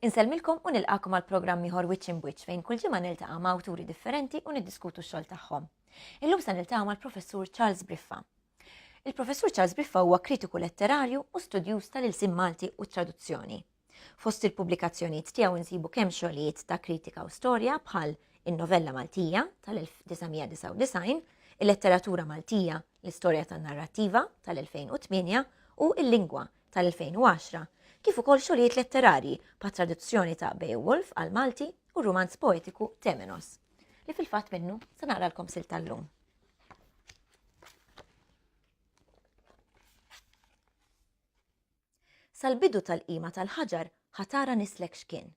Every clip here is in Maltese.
Insellmilkom u nilqakom għal programm ieħor Wiċċ in Wiċċ fejn kull ġimgħa niltaqa' ma' awturi differenti u niddiskutu x-xogħol tagħhom. Illum se niltaqa' mal-Professur Charles Briffa. Il-Professur Charles Briffa huwa kritiku letterarju u studjuż tal-ilsim Malti u traduzzjoni. Fost il-pubblikazzjonijiet tiegħu insibu kemm xogħlijiet ta' kritika u storja bħal In-Novella Maltija tal-1999, Il-Letteratura Maltija, L-Istorja tan-Narrattiva tal-2008 u Il-Lingwa tal-2010, kif ukoll xogħlijiet letterarji bħat traduzzjoni ta' Beowulf għall-Malti u r-rumanz poetiku Temenos, li fil-fatt minnu se naqralkom silta tal-lum. Sal-bidu tal-qima tal-ħaġar ħa tara nislek x'kien.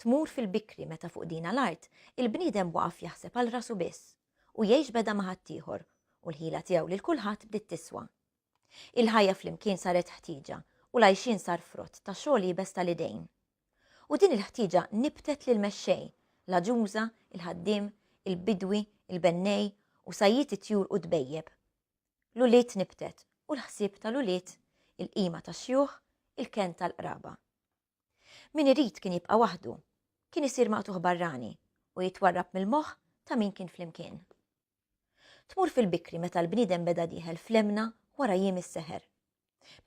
Tmur fil-bikri meta fuq dina l-art il-bniedem waqaf jaħseb għal rasu biss u jgħix beda ma' ħaddieħor u l-ħila tiegħu lil kulħadd bdiet tiswa. Il-ħajja flimkien saret ħtieġa u l-għajxien sar frott ta' xogħol iebes tal-idejn. U din il-ħtieġa nibtet lill-mexxej, l-għaġuża, il-ħaddiem, il-bidwi, il-bennej u sajjied it-tjur u d-dbejjeb. l-ulied nibtet u l-ħsieb tal-ulied, il-qima tax-xjuħ, il-kenn tal-qraba. Min irid kien jibqa' waħdu, kien isir maqtugħ barrani u jitwarrab mill-moħħ ta' min kien flimkien. Tmur fil-bikri meta l-bniedem beda dieħel flemna wara jiem is-seħer.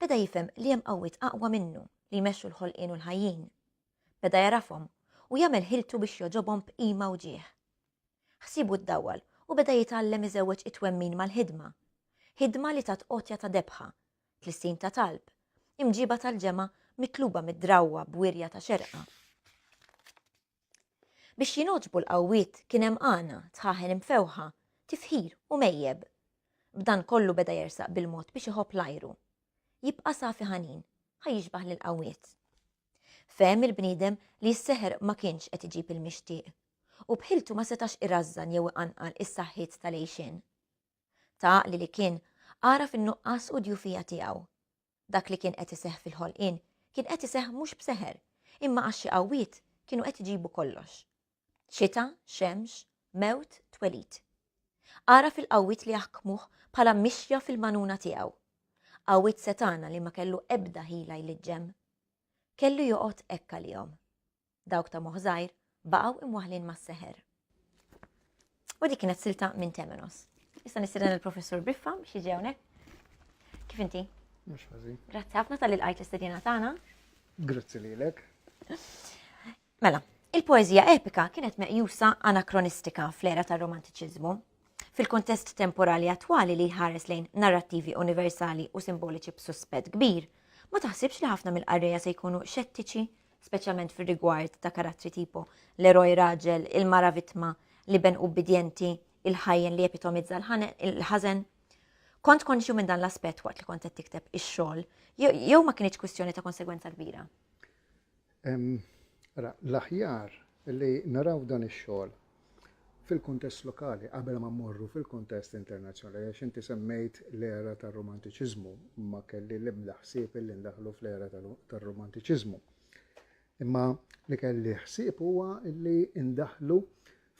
Beda jifhem li hemm qawwiet aqwa minnu li jmexxu l-ħolqien u l-ħajjin. Beda jagħrafhom u jagħmel ħiltu biex jogħġobhom b'qima u ġieħ. Ħsiebu ddawwal u beda jitgħallem iżewweġ it-twemmin mal-ħidma. Ħidma li tat għotja ta' debħa, tlissin ta' talb, imġiba tal-ġemgħa mitluba mid-drawwa b'wirja ta' xerqa. Biex jingħoġbu l-qawwiet kien hemm għana, tħaħen imfewħa, tifħir u mejjeb. B'dan kollu beda jersaq bil-mod biex iħobb l-ajru. Jibqa' safi ħanin, ħa jixbah lill-qawwiet. Fehem il-bniedem li s-seħer ma kienx qed iġib il-mixtieq u b'ħiltu ma setax irażżan jew iqanqal is-saħħiet tal-għixien. Ta' għaqli li kien, għaraf in-nuqqas u d-djufija tiegħu. Dak li kien qed iseħħ fil-ħolqien kien qed iseħħ mhux b'seħer, imma għax xi qawwiet kienu qed iġibu kollox. Xita, xemx, mewt, twelid. Għaraf il-qawwiet li jaħkmuh bħala mixja fil-manuna tiegħu. Qawwiet setana li ma kellu ebda ħila jliġġem. Kellu joqgħod hekk għalihom. dawk ta' moħ żgħir, baqgħu imwaħlin mas-seħer. U dik kienet silta minn Temenos. Issa nistieden il-Professur Biffa biex jiġi hawnhekk. Kif inti? Mhux ħażin. Grazzi ħafna tal ilqajt l-istedina tagħna. Grazzi lilek. Mela, il-poeżija epika kienet meqjusa anakronistika fl-era tar-romantiċiżmu. Fil-kontest temporali attwali li jħares lejn narrattivi universali u simboliċi b'suspett kbir, ma taħsibx li ħafna mill-qarrejja se jkunu xettiċi speċjalment fir-rigward ta' karattri tipo l-eroj raġel, il-mara vittma, l-iben ubbidjenti, il-ħajjen li jepitomizza l-ħażen. Kont konxju minn dan l-aspett waqt li kont qed tikteb ix-xogħol, jew ma kienx kwistjoni ta' konsegwenza kbira? L-aħjar li naraw dan ix-xogħol fil-kuntest lokali qabel ma mmorru fil-kuntest internazzjonali għax inti semmejt l-era tar-Rumantiċiżmu, ma kelli l-ebda ħsieb illi ndaħħlu fl-era tar-Rumantiċiżmu. Imma li kelli ħsieb huwa illi ndaħħlu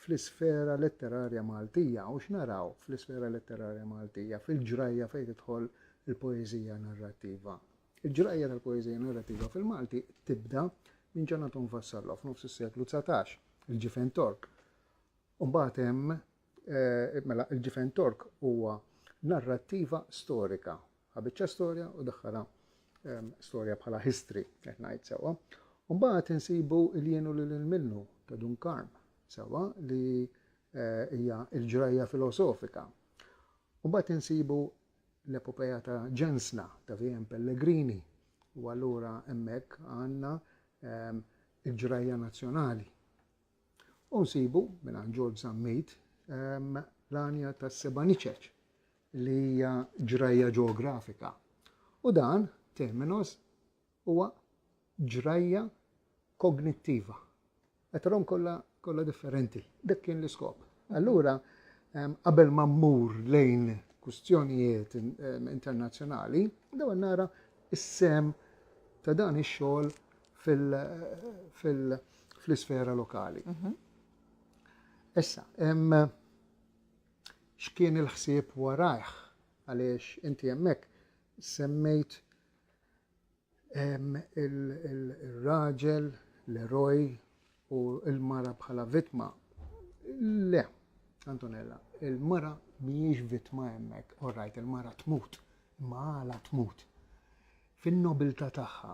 fl-isfera letterarja Maltija u x'naraw fl-isfera letterarja Maltija fil-ġrajja fejn tidħol il-poeżija narrattiva. Il-ġrajja tal-poeżija narrativa fil-Malti tibda minn Ġan Anton Vassallo f'nofs is-seklu 19, il-Ġifen Tork. Mbagħad hemm eh, mela il-Ġifen Tork huwa narrattiva storika. Ħabiċċa storja u daħħala ehm, storja bħala history, qed ngħid sewwa. Mbagħad insibu il-jienu lil minnu ta' Dun Karm sewwa li eh, hija l-ġrajja filosofika. Mbagħad insibu l-epopeja ta' ġensna, ta' VM. Pellegrini, u allura hemmhekk għandna l-ġrajja nazzjonali. U nsibu mingħand Ġorġ Zammit l-għanja tas-Sebaniċeċ li hija ġrajja ġeografika. U dan terminus Huwa ġrajja kognittiva. Qed tarahom kollha kollha differenti. Dak kien l-iskop. Allura qabel ma mmur lejn kwistjonijiet internazzjonali, daw nara is-sem ta' dan ix-xogħol fl-isfera lokali. Mhm. Issa, x'kien il-ħsieb warajh għaliex inti hemmhekk semmejt il-raġel, l-eroj u l-mara bħala vittma. Le, Antonella, il-mara mhijiex vittma hemmhekk, orrajt il-mara tmut, imma għala tmut. Fin-nobilità tagħha,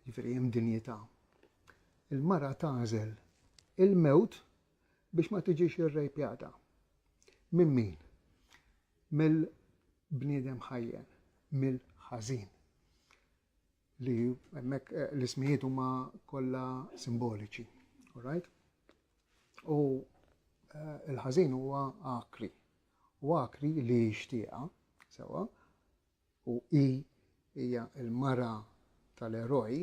jiġifieri hemm dinjità, il-mara tażel il-mewt biex ma tiġix irrejpjata. Minn min? Mill bniedem ħajjen mill-ħażin. Li hemmhekk eh, l-ismijiet huma kollha simboliċi. Alright? U eh, il-ħażin huwa akri. U akri li jixtieqa, sewa, u i hija l-mara tal-eroj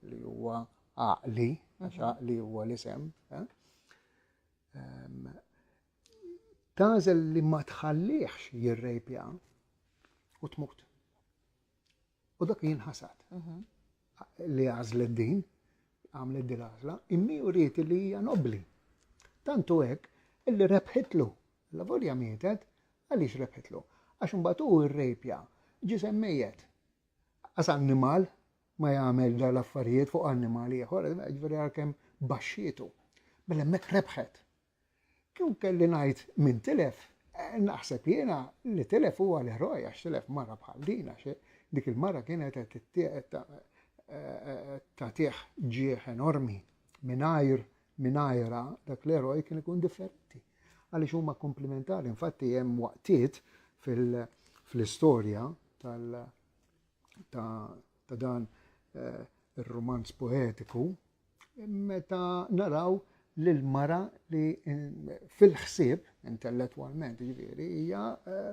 li huwa għaqli, għax mhm. għaqli huwa l-isem. Eh? tagħżel li ma tħallihx jirrejpja u tmut. U dak jien ħasad mhm. li għażlet din, għamlet din għażla, immi uriet li hija nobli. Tantu hekk illi rebħitlu, la volja mietet, għaliex rebħitlu. Għax imbagħad hu rrejpja, ġisem mejjet. Għas annimal ma jagħmel dal affarijiet fuq annimal ieħor, ġifieri għalkemm baxxietu. Mela hemmhekk rebħet. Kieku kelli ngħid min tilef, naħseb jiena li tilef huwa l-eroj għax tilef mara bħal din għax dik il-mara kienet qed tagħtih ġieħ enormi. Mingħajr mingħajrha dak l-eroj kien ikun differenti għaliex huma komplimentari. Infatti hemm waqtiet fl-istorja tal ta' dan eh, ir-romanz poetiku Meta naraw lil mara li fil-ħsieb intellettwalment ġifieri hija eh,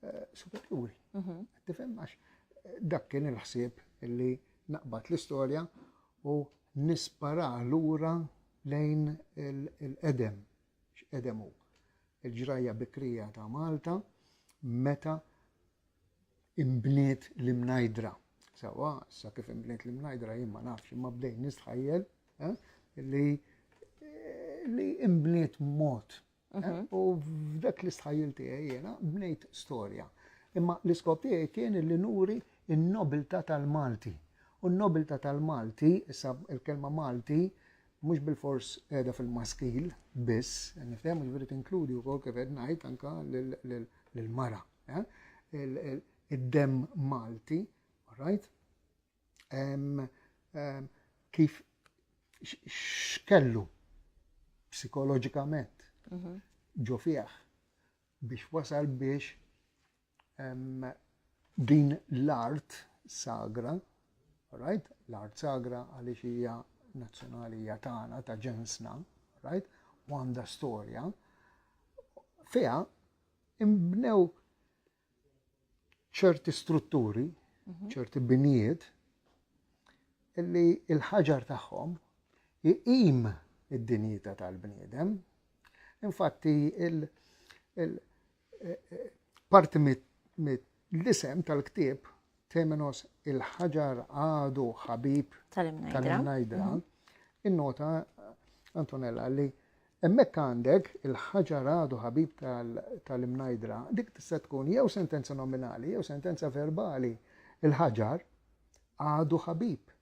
eh, superjuri. Mhm. Tifhem għax eh, dak kien il-ħsieb li naqbad l-istorja u nispara lura lejn il-edem, x'edem hu. Il-ġrajja bikrija ta' Malta meta Inbniet l-Imnajdra. Sewwa, issa kif inbniet l-Imnajdra jien ma nafx, imma bdejt nistħajjel eh, li li inbniet mod. Eh, mhm. U f'dak l-istħajjel tiegħi jiena bnejt storja. Imma l-iskop tiegħi kien li nuri n-nobilta tal-Malti. U n-nobilta tal-Malti, issa il-kelma Malti, mhux bil-fors qiegħda fil-maskil biss, nifhem ġifieri tinkludi wkoll kif qed ngħid anke lill-mara. id-demm Malti, right? Kif x'kellu psikoloġikament mhm. ġo fih biex wasal biex din l-art sagra, right? L-art sagra għaliex hija nazzjonali hija tagħna ta' ġensna, right? U għandha storja. Fiha inbnew ċerti strutturi, mhm. ċerti binjiet, illi il-ħaġar tagħhom iqim id-dinjità tal-bniedem. Infatti, il-parti eh, eh, mit L-isem tal-ktieb, Temenos il-ħaġar għadu ħabib tal-imnajdra, innota Antonella li hemmhekk għandek il-ħaġar għadu ħabib tal-imnajdra, dik tista' tkun jew sentenza nominali jew sentenza verbali. Il-ħaġar għadu ħabib.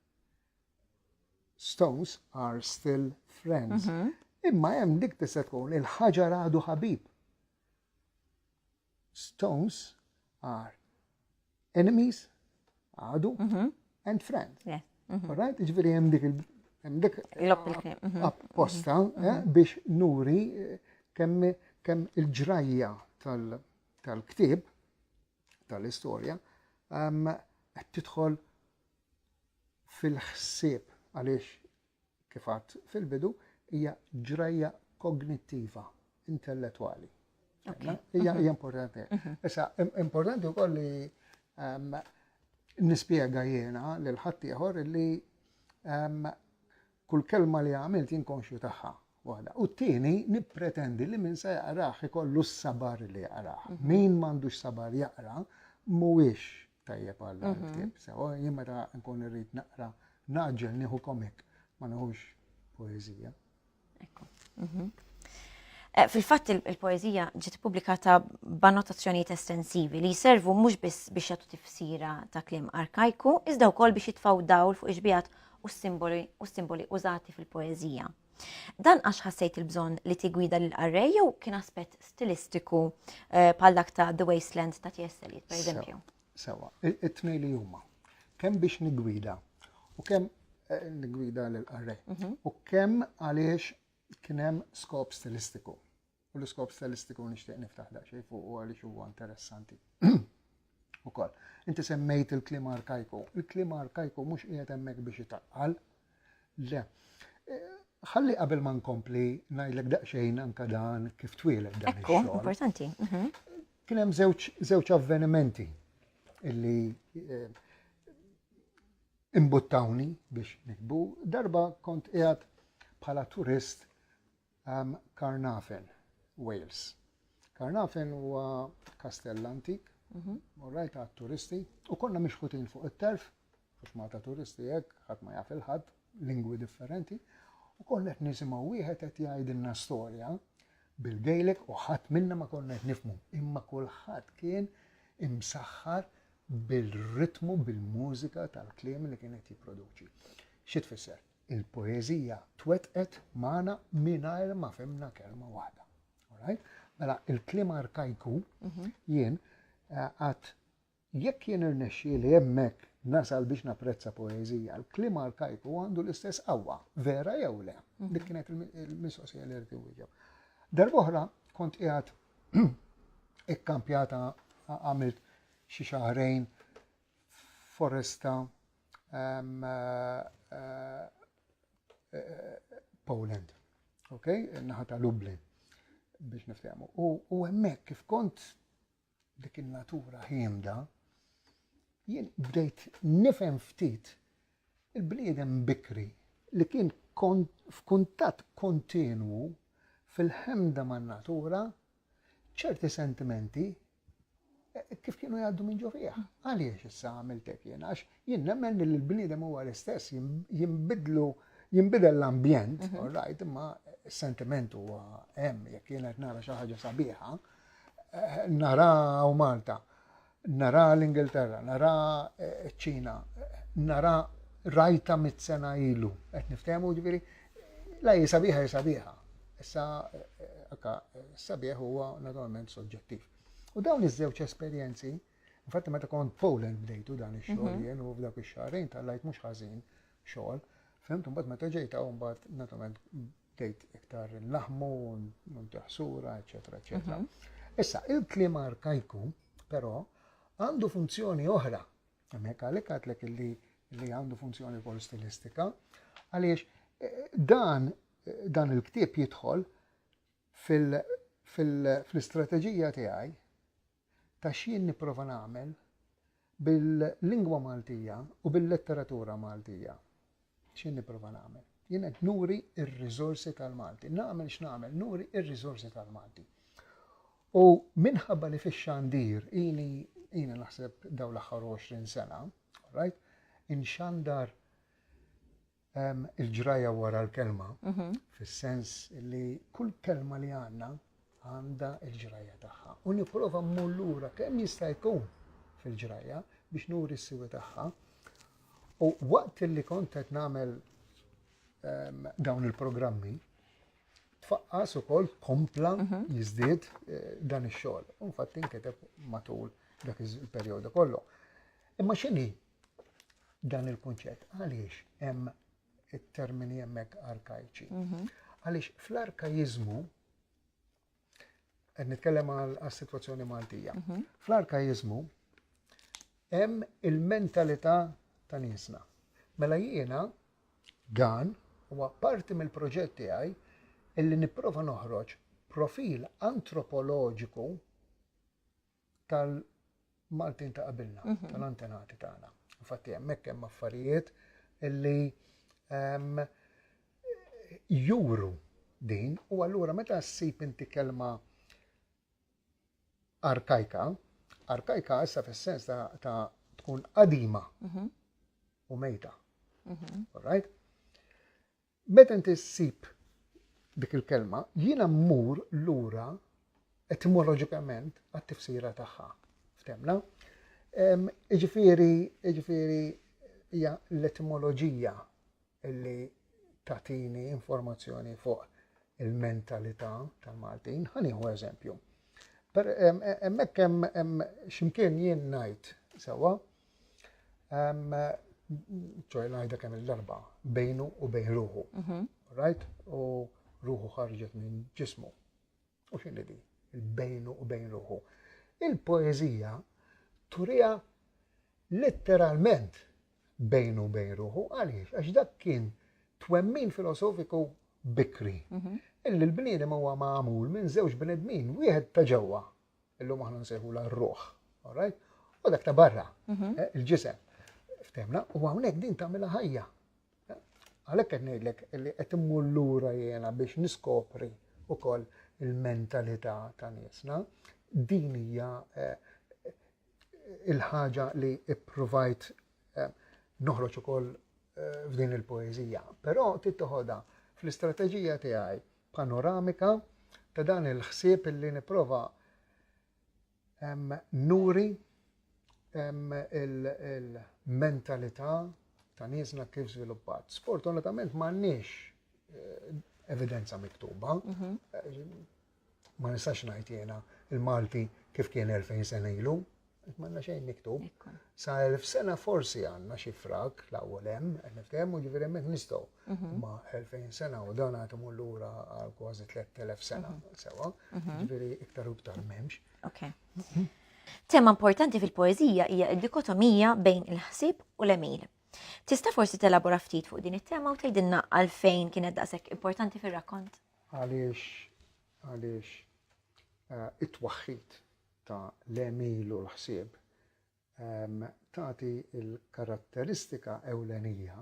Stones are still friends. Mhm. Imma hemm dik tista' tkun il-ħaġar għadu ħabib. Stones are enemies, għadu, and friends. Alright, ġviri jem dik il-dik apposta biex nuri kemm kemm il-ġrajja tal-ktib tal-istorja qed tidħol fil-ħsieb għaliex kif għadt fil-bidu, hija ġrajja kognittiva, intellettwali. Hija importanti. Issa, importanti wkoll li ehm, nispjega jiena lil ħadd ieħor li ehm, kull kelma li għamilt jinkonxju tagħha waħda. U t-tieni nippretendi li min se jaqraħ ikollu s-sabar li jaqraħ. Mhm. Min m'għandux sabar jaqra mhuwiex tajjeb għal mhm. ktieb. Sewa jien meta nkun irrid naqra naġġel nieħu komik ma nħux poeżija. Ekku. Mhm. Eh, fil-fatt il-poezija ġiet publikata b'annotazzjonijiet estensivi li jservu mhux biss biex jagħtu tifsira ta' kliem arkajku, iżda wkoll biex jitfgħu dawl fuq iġbijat u simboli użati fil-poezija. Dan għax ħassejt il-bżonn li tigwida lil qarrej jew kien aspett stilistiku eh, bħal dak ta' The Wasteland ta' T.S. Eliot, per eżempju? Sewa, it-tnej li huma. Kemm biex nigwida u kemm eh, nigwida lil qarrej mhm. u kemm għaliex kien hemm skop stilistiku. U l-iskop stilistiku nixtieq niftaħ daqsxejn fuq u għaliex huwa interessanti. Ukoll, inti semmejt il-klima arkajku. Il-klima arkajku mhux qiegħed hemmhekk biex itaqqal. Le. Eh, ħalli qabel ma nkompli ngħidlek daqsxejn anka dan kif twieled dan. Ekku, importanti. Mhm. Kien hemm żewġ avvenimenti illi eh, imbuttawni biex nikbu. Darba kont qiegħed bħala turist Carnarvon, Wales. Carnarvon huwa kastell antik, mhm. rajt għat turisti, u konna mixħutin fuq it-terf, fux Malta turisti hekk, ħadd ma jaf il-ħadd, lingwi differenti, u konna qed nisimgħu wieħed qed jgħidilna storja bil-gejlek u ħadd minna ma konna qed nifmu, imma kulħadd kien imsaħħar bil-ritmu, bil-mużika tal-kliem li kienet jipproduċi. Xi tfisser? il-poeżija twettqet magħna mingħajr ma fimna kelma waħda. Alright? Mela, il-kliem arkajku mhm. jien eh, għat jekk jien irnexxi li hemmhekk nasal biex napprezza poeżija, l-klim arkajku għandu l-istess qawwa, vera jew le. Mhm. Dik kienet il-mistoqsija li rti wieġeb. Darbohra kont qiegħed ikkampjata għamilt xi xahrejn foresta Poland, ok, naħa ta' Lublin biex niftehmu. U hemmhekk kif kont dik in-natura ħiemda, jien bdejt nifhem ftit il-bniedem bikri li kien f'kuntatt kontinwu fil-ħemda man-natura ċerti sentimenti Kif kienu jgħaddu minn ġo fih? Għaliex issa għamiltek jien? Għax jien nemmen li l-bniedem huwa l-istess, jinbidlu, jinbidel l-ambjent, mhm. all right, imma s-sentiment huwa hemm jekk jien qed nara xi ħaġa sabiħa, eh, nara u Malta, nara l-Ingilterra, nara eh, ċ-Ċina, nara rajta mit-sena ilu, qed niftehmu ġifieri La hi sabiħa hi sabiħa. Issa akka sabiħ huwa naturalment soġġettiv. U dawn iż-żewġ esperjenzi, infatti meta kont Poland bdejtu dan ix-xogħol mhm. jien u f'dak ix-xahrejn tal-lajt mhux ħażin xogħol, fimt mbagħad meta ġejta u mbagħad naturalment bdejt iktar naħmu, ntaħsura, eċetera, eċetera. Mhm. Issa, il-klima arkajku, però, għandu funzjoni oħra Hemmhekk għalhekk għadlek illi li għandu funzjoni wkoll stilistika, għaliex eh, dan eh, dan il-ktieb jidħol fil-istrateġija tiegħi ta' x'jien nipprova nagħmel bil-lingwa Maltija u bil-letteratura Maltija. X'qed nipprova nagħmel? Jien qed nuri r-riżorsi tal-Malti. Nagħmel x'nagħmel? Nuri r-riżorsi tal-Malti. U minħabba li fix-xandir ili ili naħseb daw l-aħħar 20 sena, right? Inxandar ehm, il-ġrajja wara l-kelma, mhm. fis-sens li kull kelma li għandna għandha l-ġrajja tagħha u nipprova mmur lura kemm jista' jkun fil-ġrajja biex nuri s-siwi tagħha. U waqt li kont qed nagħmel ehm, dawn il-programmi, tfaqqas ukoll kompla mhm. jiżdied eh, dan ix-xogħol. U fatt inkiteb matul dak il-perjodu kollu. Imma x'inhi dan il-kunċett? Għaliex hemm it-termini hemmhekk arkajċi. Mhm. Għaliex fl-arkaiżmu qed nitkellem għas-sitwazzjoni Maltija. Mhm. Fl-arkaiżmu hemm il-mentalità ta' niesna. Mela jiena dan huwa parti mill-proġett tiegħi illi nipprova noħroġ profil antropoloġiku tal-Maltin ta' qabilna, tal-antenati tagħna. Infatti hemmhekk hemm affarijiet illi ehm, juru din u allura meta ssib inti kelma arkajka, arkajka issa fis-sens ta' tkun qadima mhm. u mejta. Mhm. Alright? Meta inti ssib dik il-kelma, jiena mmur lura etimoloġikament għat-tifsira tagħha. Ftemna? Iġifieri, iġifieri hija l-etimoloġija li tatini informazzjoni fuq il-mentalità tal-Maltin. Ħanieħu eżempju. Emmek hemm ximkien jien ngħid sewa ċoj najda kemm il-darba, bejnu u bejn ruħu. Mhm. Right? U ruħu ħarġet minn ġismu. U xinni di? Il-bejnu u bejn ruħu. Il-poezija turija letteralment bejnu u bejn ruħu, għaliex, għax dak kien twemmin filosofiku bikri. Mhm. Illi l-bniedem huwa magħmul minn żewġ bnedmin, wieħed ta' ġewwa Illum aħna nsejħula r-ruħ, all right? U dak ta' barra, mhm. eh, il-ġisem, ftemna, u hawnhekk din tagħmilha ħajja. Eh, għalhekk qed ngħidlek li qed immur lura jiena biex niskopri ukoll il-mentalità ta' niesna. Din hija eh, il-ħaġa li ippruvajt noħroġ ukoll f'din il-poeżija, però tittoħodha fl-istrateġija tiegħi panoramika ta' dan il-ħsieb illi nipprova nuri il-mentalità ta' niesna kif żviluppat. Sfortunatament m'għandniex eh, evidenza miktuba. Mhm. Eh, ma nistax ngħid jiena il-Malti kif kien 2000 sena ilu, Qed m'għandna xejn miktub. Sa elf sena forsi għandna xi frak l-ewwel hemm, qed niftehmu ġifieri hemmhekk nistgħu. Mhm. Ma 2000 sena u dan għad imur lura għal kważi 3000 sena mhm. sewa, mhm. ġifieri iktar u iktar m'hemmx. Okay. Tema importanti fil-poezija hija d-dikotomija bejn il-ħsieb u l-emil. Tista' forsi telabora ftit fuq din it-tema u tgħidilna għalfejn kienet daqshekk importanti fir-rakkont? Għaliex għaliex eh, it-twaħħid ta' l-għemil u l-ħsieb, tagħti l-karatteristika ewlenija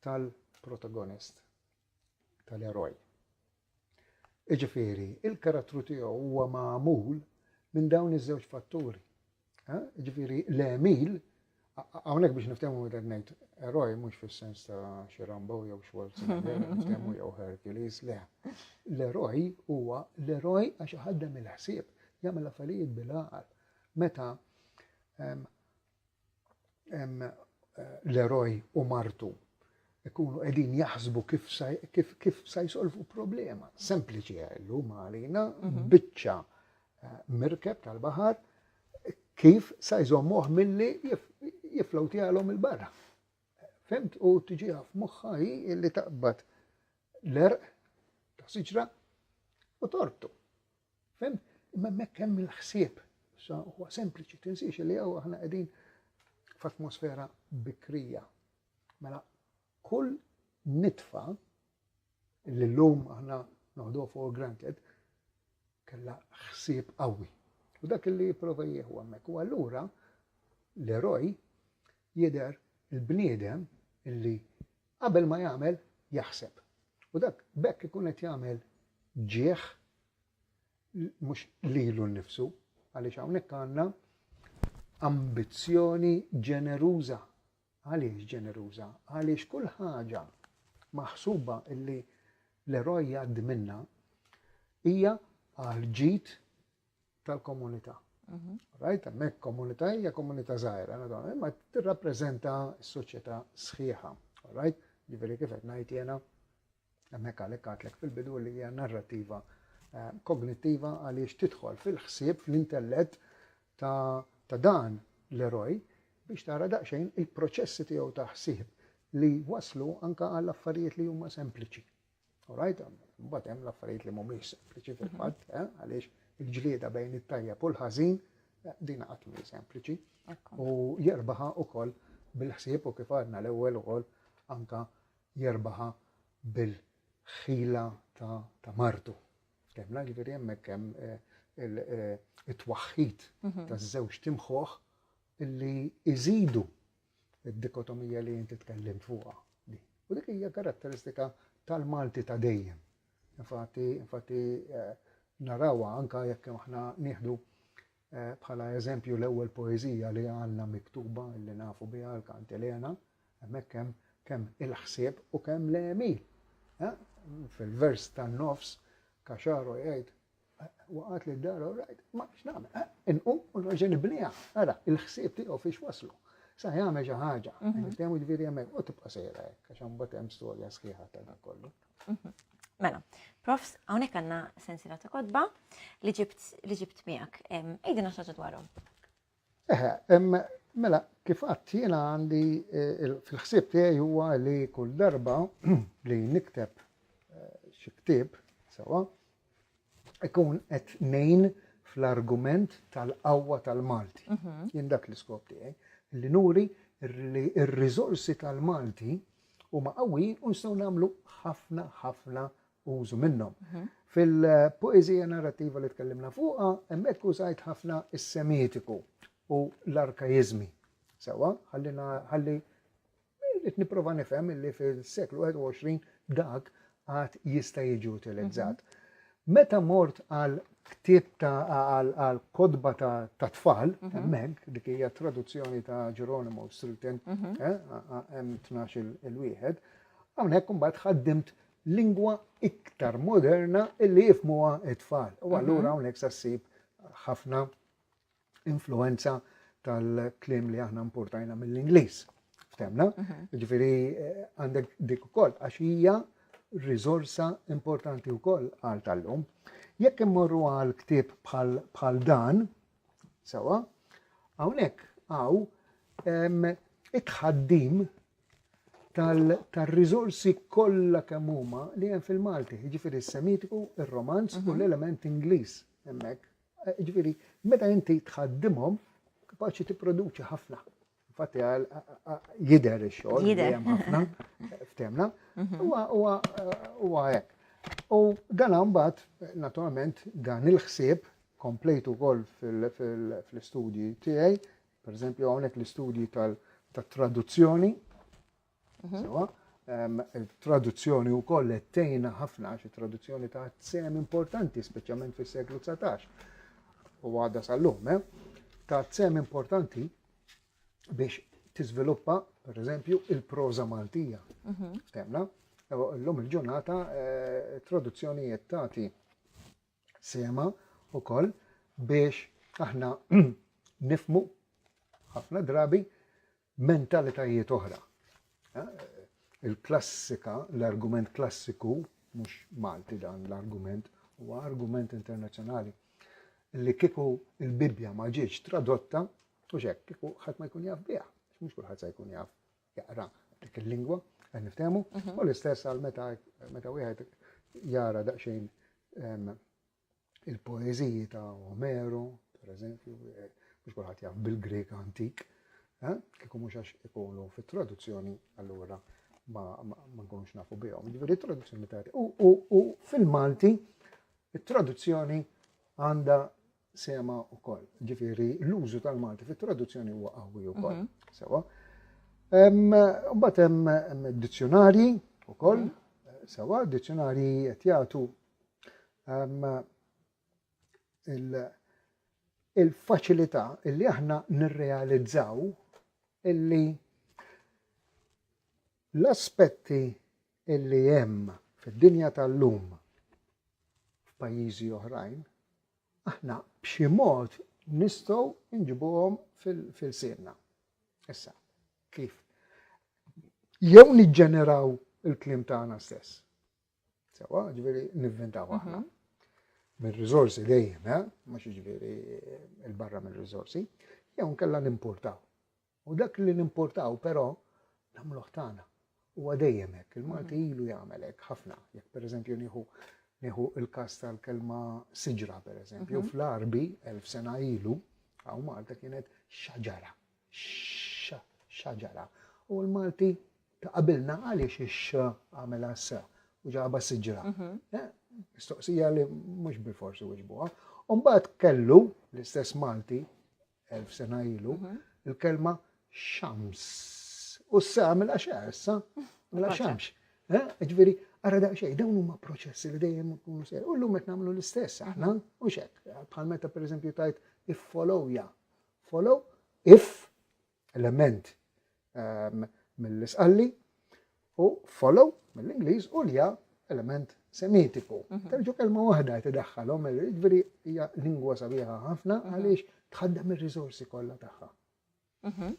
tal-protagonist, tal-eroj. Jiġifieri, il-karattru tiegħu huwa magħmul minn dawn iż-żewġ fatturi. Jiġifieri, l-għemil Hawnhekk biex niftehmu meta ngħid eroj mhux fis-sens ta' xi Rambo jew Schwarzenegger, niftehmu jew Hercules, le. L-eroj huwa l-eroj għax iħaddem il-ħsieb, jagħmel affarijiet bil-għaqal. Meta eh, l-eroj u martu ikunu qegħdin jaħsbu kif sa jsolvu problema. Sempliċi għallu eh, ma għalina, mhm. biċċa mirkeb tal-baħar kif sa jżommuh milli jiflow tiegħalhom il-barra. Fimt u tiġiha f'moħħa hi illi taqbad l-erq ta' siġra u tortu. Fimt, imma mekk hemm il-ħsieb. Sa huwa sempliċi tinsiex li hawn aħna qegħdin f'atmosfera bikrija. Mela Kull nitfa li llum aħna noħduha for granted kellha ħsieb qawwi. U dak li jipprova jieħu hemmhekk. U allura l-eroj jidher il-bniedem illi qabel ma jagħmel jaħseb. U dak bekk ikun qed jagħmel ġieħ mhux lilu nnifsu għaliex hawnhekk għandna ambizzjoni ġeneruża Għaliex ġeneruża? Għaliex kull ħaġa maħsuba li l-eroj jgħaddi minnha hija għall-ġid tal-komunità. Mhm. Rajt, hemmhekk komunità hija komunità żgħira, imma tirrappreżenta s-soċjetà sħiħa. Rajt, ġifieri kif qed ngħid jiena Hemmhekk għalhekk għadtlek fil-bidu li hija narrativa kognittiva għaliex tidħol fil-ħsieb fl-intellett ta' dan l-eroj biex tara daqsxejn il-proċessi tiegħu ta' ħsieb li waslu anka għall affarijiet li huma sempliċi. Alright, mbagħad hemm l-affarijiet li mhumiex sempliċi fil-fatt, mhm. eh, għaliex il-ġlieda bejn it-tajjeb u l-ħażin eh, din qatt mhi sempliċi. U jerbaħa ukoll bil-ħsieb u kif għadna l-ewwel ukoll anka jerbaħha bil-ħila ta' martu. Ftemna ġifieri hemmhekk hemm it-twaħħid taż-żewġ timħuħ li iżidu d-dikotomija li inti tkellimt fuqha. U dik hija karatteristika tal-Malti ta' dejjem. Infatti, infatti eh, narawa anka jekk aħna nieħdu Bħala eżempju, l-ewwel poeżija li għandna miktuba li nafu biha, il-Kantilena, hemmhekk hemm kemm il-ħsieb u kemm l-għemil. Fil-vers tan-nofs, Kaxaro jgħid, waqgħet li d-dar u rajt, ma x'nagħmel, inqum u nerġa' nibniha. Ara, il-ħsieb tiegħu fiex waslu. Sa jagħmel xi ħaġa, mhm. niftehmu ġifieri hemmhekk u tibqa' sejra hekk, għax hemm hemm storja sħiħa ta' dan kollu. Mhm. Mela, profs, hawnhekk għandna sensira ta' kodba li ġibt miegħek. Ejdina xaġa dwarhom. Eħe, mela, kif qatt jiena għandi eh, fil-ħsieb tiegħi huwa li kull darba li nikteb eh, xi ktieb sewa, ikun qed nejn fl-argument tal-qawwa tal-Malti. Mhm. Jien dak l-iskop tiegħi li nuri li r-riżorsi tal-Malti huma qawwijin u nistgħu nagħmlu ħafna ħafna użu minnhom. Mhm. Fil-poezija narrativa li tkellimna fuqha, hemmhekk użajt ħafna is-semitiku u l-arkajizmi. Sewa, ħalli Irrid nipprova nifhem li fis-seklu 21 dak għad jista' jiġi utilizzat. Meta mort għal ktieb ta' għal kodba ta' tfal, mhm. hemmhekk dik hija traduzzjoni ta' Geronimo Strilten, mhm. eh, hemm 12 il-wieħed, hawnhekk imbagħad ħaddimt lingwa iktar moderna illi jifmuha it-tfal. U mhm. allura hawnhekk sa ssib ħafna influenza tal-klim li aħna importajna mill-Ingliż. Ftemna? Mhm. Ġifiri, eh, għandek dik ukoll, għax hija riżorsa importanti wkoll għal tal-lum. Jekk immorru għal ktib bħal dan, sewa, hawnhekk għaw it-ħaddim tal-rizorsi kollha kemm huma li hemm fil-Malti, jiġifieri s-Semitiku, ir-Romanz u mhm. l-element Ingliż hemmhekk Jiġifieri, meta inti tħaddimhom, kapaċi tipproduċi ħafna. Infatti għal jidher ix-xogħol li hemm ħafna f'temna. Mhm. Huwa hekk. U dan mbagħad, naturalment, dan il-ħsieb komplejtu wkoll fl-istudji tiegħi, pereżempju hawnhekk l-istudji tal-traduzzjoni, Sewa, il-traduzzjoni wkoll qed tgħinna ħafna għax it-traduzzjoni ta' sem importanti, speċjalment fis-seklu 19 u għadha sal-lum, eh? ta' sem importanti biex tiżviluppa, per eżempju, il-proza Maltija. Mhm. Ftemna? L-lum il-ġurnata eh, traduzzjonijiet tagħti sema u koll biex aħna nifmu ħafna drabi mentalitajiet oħra. Il-klassika, l-argument klassiku, mhux Malti dan l-argument, huwa argument internazzjonali, li kieku il-Bibbja ma ġietx tradotta, u xek, kieku ħadd ma jkun jaf biha, mhux kulħadd se jkun jaf jaqra dik il-lingwa, qed niftehmu, mhm. u l-istess għal meta meta wieħed jara daqsxejn il-poeżiji ta' Omero, per eżempju, eh, mhux kulħadd jaf bil-Grek antik, eh, kieku mhux għax ikunu fit-traduzzjoni allura ma nkunux nafu bihom. Ġifieri traduzzjoni ta' u fil-Malti it-traduzzjoni għandha sema wkoll. Ġifieri l-użu tal-Malti fit-traduzzjoni huwa qawwi wkoll. Mhm. Sewa. Mbagħad hemm dizzjonarji wkoll, mhm. sewa, dizzjonarji qed jagħtu il-faċilità illi aħna nirrealizzaw illi l-aspetti illi hemm fid-dinja tal-lum f'pajjiżi oħrajn, aħna b'xi mod nistgħu nġibuhom fil-sienna. Issa, kif? Jew niġġeneraw il-klim tagħna stess. Sewa, ġveri, nivvintaw aħna. Mhm. Minn rizorsi dejjem, eh? mux ġveri il-barra minn rizorsi, jew nkella nimportaw. U dak li nimportaw, pero, namluħ tana. U għadejjem hekk, il-Malti mhm. ilu jagħmel hekk ħafna. Jekk pereżempju nieħu nieħu il-kas tal-kelma siġra pereżempju, mhm. fl-arbi elf sena ilu, għaw Malta kienet xaġara. X-xa ġara? U l-Malti ta' qabilna għaliex ix-x għamela s u ġaba siġra? Mistoqsija li mhux bil-forsi wiġbuha. Umbagħad kellu l-istess Malti elf sena ilu il-kelma xams. U s għamela x'għessa? Mela xamx. Ġifieri, Ara daqsxejn, dawn huma proċessi li dejjem ikunu ser. U llum qed nagħmlu l-istess aħna, u xek. Bħal meta pereżempju tajt iffolowja Follow if element um, mill-isqalli u follow mill-Ingliż u lja element semitiku. Mhm. Terġu kelma waħda qed idaħħalhom, jiġifieri hija lingwa sabiħa ħafna mhm. għaliex tħaddem ir-riżorsi kollha tagħha. Mhm.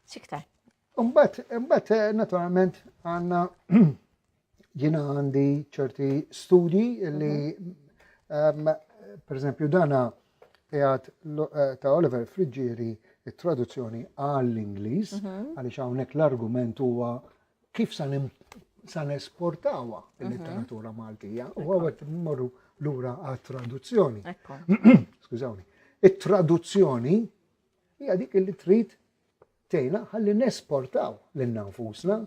Xiktar. Umbat, umbat, eh, naturalment, għanna Jiena għandi ċerti studji li mhm. per eżempju dana jgħat eh, ta' Oliver Friggieri il-traduzzjoni għall-Inglis, mhm. għalix hawnhekk l-argument huwa kif sa' san esportawa mhm. il-literatura Maltija u għawet morru l-ura għal-traduzzjoni. Skużawni. Il-traduzzjoni hija dik li trid tgħinna ħalli nesportaw lilna nfusna,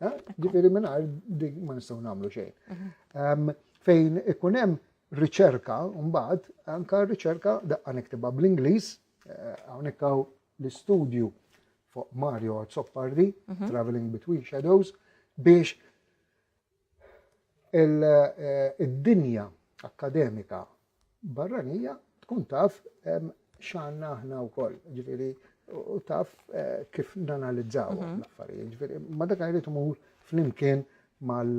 eh? ġifieri mingħajr dik ma nistgħu nagħmlu xejn. Ehm, fejn ikun hemm riċerka mbagħad anka riċerka daqqa niktibha bl-Ingliż eh, hawnhekk hawn l-istudju fuq Mario Zoppardi, mhm. Traveling Between Shadows, biex id-dinja akkademika barranija tkun taf x'għandna aħna wkoll, ġifieri u taf kif nanalizzaw mhm. l-affarijiet. Ġifieri ma dak jrid imur flimkien mal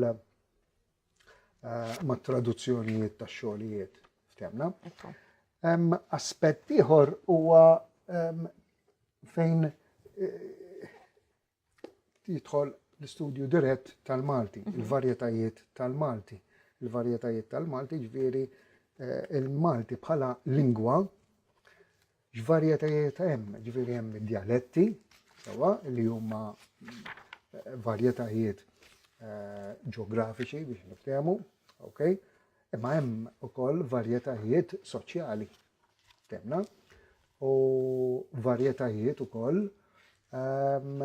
ma traduzzjonijiet ta' xogħlijiet ftemna. Aspett ieħor huwa fejn jidħol l-istudju dirett tal-Malti, mhm. il-varjetajiet tal-Malti. Il-varjetajiet tal-Malti ġviri eh, il-Malti bħala lingwa, ġvarjetajiet hemm, ġviri hemm dialetti, sewa li huma eh, varjetajiet eh, ġeografiċi biex niftehmu, ok? Imma hemm ukoll varjetajiet soċjali, Temna. U varjetajiet ukoll ehm,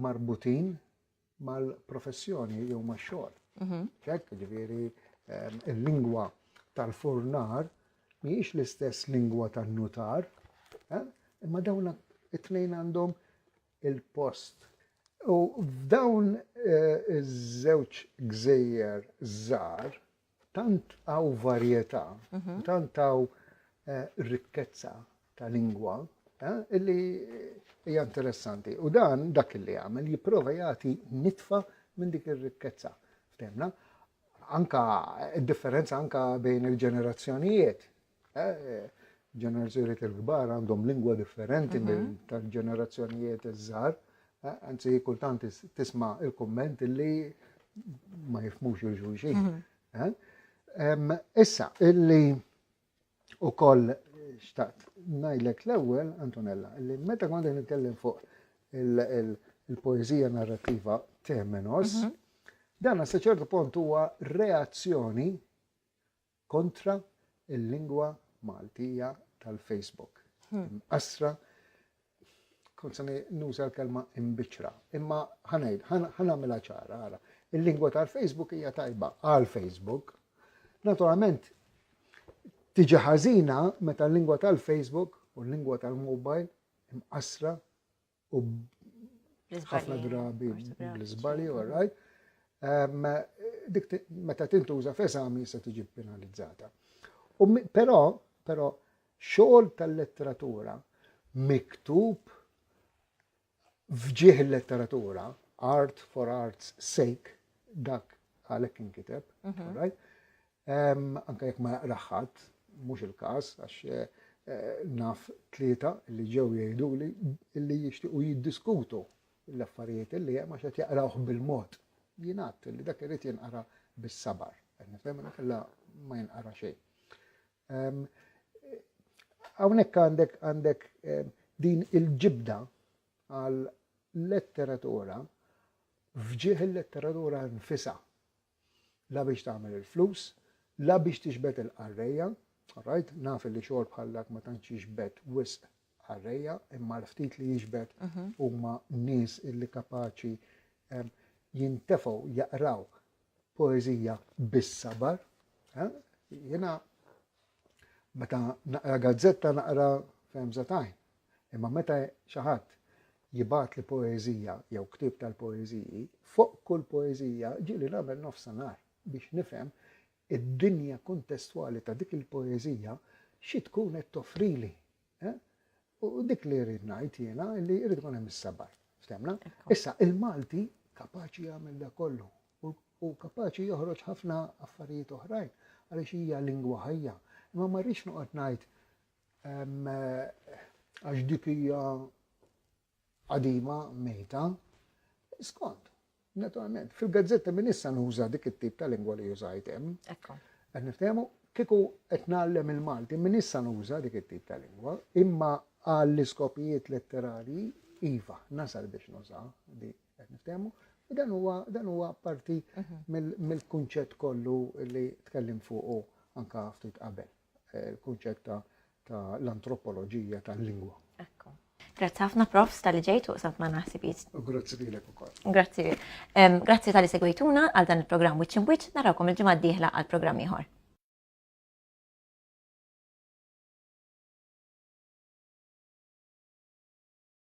marbutin mal-professjoni jew max-xogħol. Mhm. Ċek, ġifieri ehm, il-lingwa tal-furnar mhijiex l-istess lingwa tan-nutar, eh, imma dawn it-tnejn għandhom il-post. U f'dawn eh, iż-żewġ gżejjer żgħar Tant hawn varjetà, tant hawn rikkezza ta' lingwa, illi hija interessanti. U dan dak li jagħmel jipprova jagħti nitfa minn dik ir-rikkezza. Ftemna? Anka differenza anka bejn il-ġenerazzjonijiet, Ġenerazzjonijiet il-kbar għandhom lingwa differenti mhm. minn tal-ġenerazzjonijiet iż-żgħar. Anzi, kultant tisma' il-kumment li ma jifmux il-ġuġin. Mhm. Issa, illi u koll xtaqt najlek l-ewel, Antonella, li meta kondi nitkellem fuq il-poezija narrativa Temenos, mhm. dan sa ċertu punt huwa reazzjoni Kontra il-lingwa Maltija tal-Facebook. Imqassra, kont se nuża l-kelma imbiċċra, imma ħa ngħid, ħa nagħmilha ċara, ara. Il-lingwa tal-Facebook hija tajba għal Facebook. Naturalment, tiġi ħażina meta l-lingwa tal-Facebook u l-lingwa tal-mobile imqassra u ħafna drabi bl-iżbalji, all right. Dik meta tintuża f'eżami se tiġi penalizzata. Però, però, xogħol tal-letteratura miktub fġieħ il-letteratura, art for art's sake, dak għalek inkiteb, mhm. Anke jekk ma jaqrah ħadd, mhux il-każ għax naf tlieta li ġew jgħiduli li jixtiequ jiddiskutu l-affarijiet li hemm għax qed jaqrawh bil-mod. Jingħad li dak irid jinqara bis-sabar. Qed nifhem li kellha ma jinqara xejn. Hawnhekk għandek għandek din il-ġibda għal letteratura fġieħ il-letteratura nfisa. la biex tagħmel il-flus, la biex tixbed il-qarrejja, all right, naf illi xogħol bħal dak ma tantx jixbed wisq qarrejja, imma l-ftit li jixbed huma nies illi kapaċi em, jintefgħu jaqraw poeżija bis-sabar. eh? Jiena meta naqra gazzetta naqra f'hemża tajn, Imma meta xi ħadd jibgħatli poeżija jew ktieb tal-poeżiji, fuq kull poeżija ġieli nagħmel nofsinhar biex nifhem id-dinja kuntestwali ta' dik il-poeżija xi tkun qed toffrili. Eh? U dik li rrid ngħid jiena li rrid ikun hemm is-sabar. Ftemna? Issa il-Malti kapaċi jagħmel da kollu u kapaċi joħroġ ħafna affarijiet oħrajn għaliex hija lingwa ħajja. Imma ma rridx noqgħod ngħid Għax dik hija qadima mejta, skont, naturalment, fil-gazzetta minn issa nuża dik it-tip ta' lingwa li jużajt hemm. Ekku. Qed niftehmu kieku qed nagħllem il-Malti minn issa nuża dik it-tip ta' lingwa, imma għall iskopijiet letterali iva, nasal biex nuża di qed niftehmu. Dan huwa dan huwa parti mhm. mill-kunċett kollu li tkellim fuqu anka ftit qabel. eh, il-kunċett ta' l-antropoloġija tal-lingwa. Ekku. Grazzi ħafna profs tal-li ġejtu u samt ma naħsibiet. Grazzi li l-ek ukoll. Grazzi. Grazzi tal-li segwejtuna għal dan il-programm Witch in Witch, narawkom il-ġimgħa d-dieħla għal programm ieħor.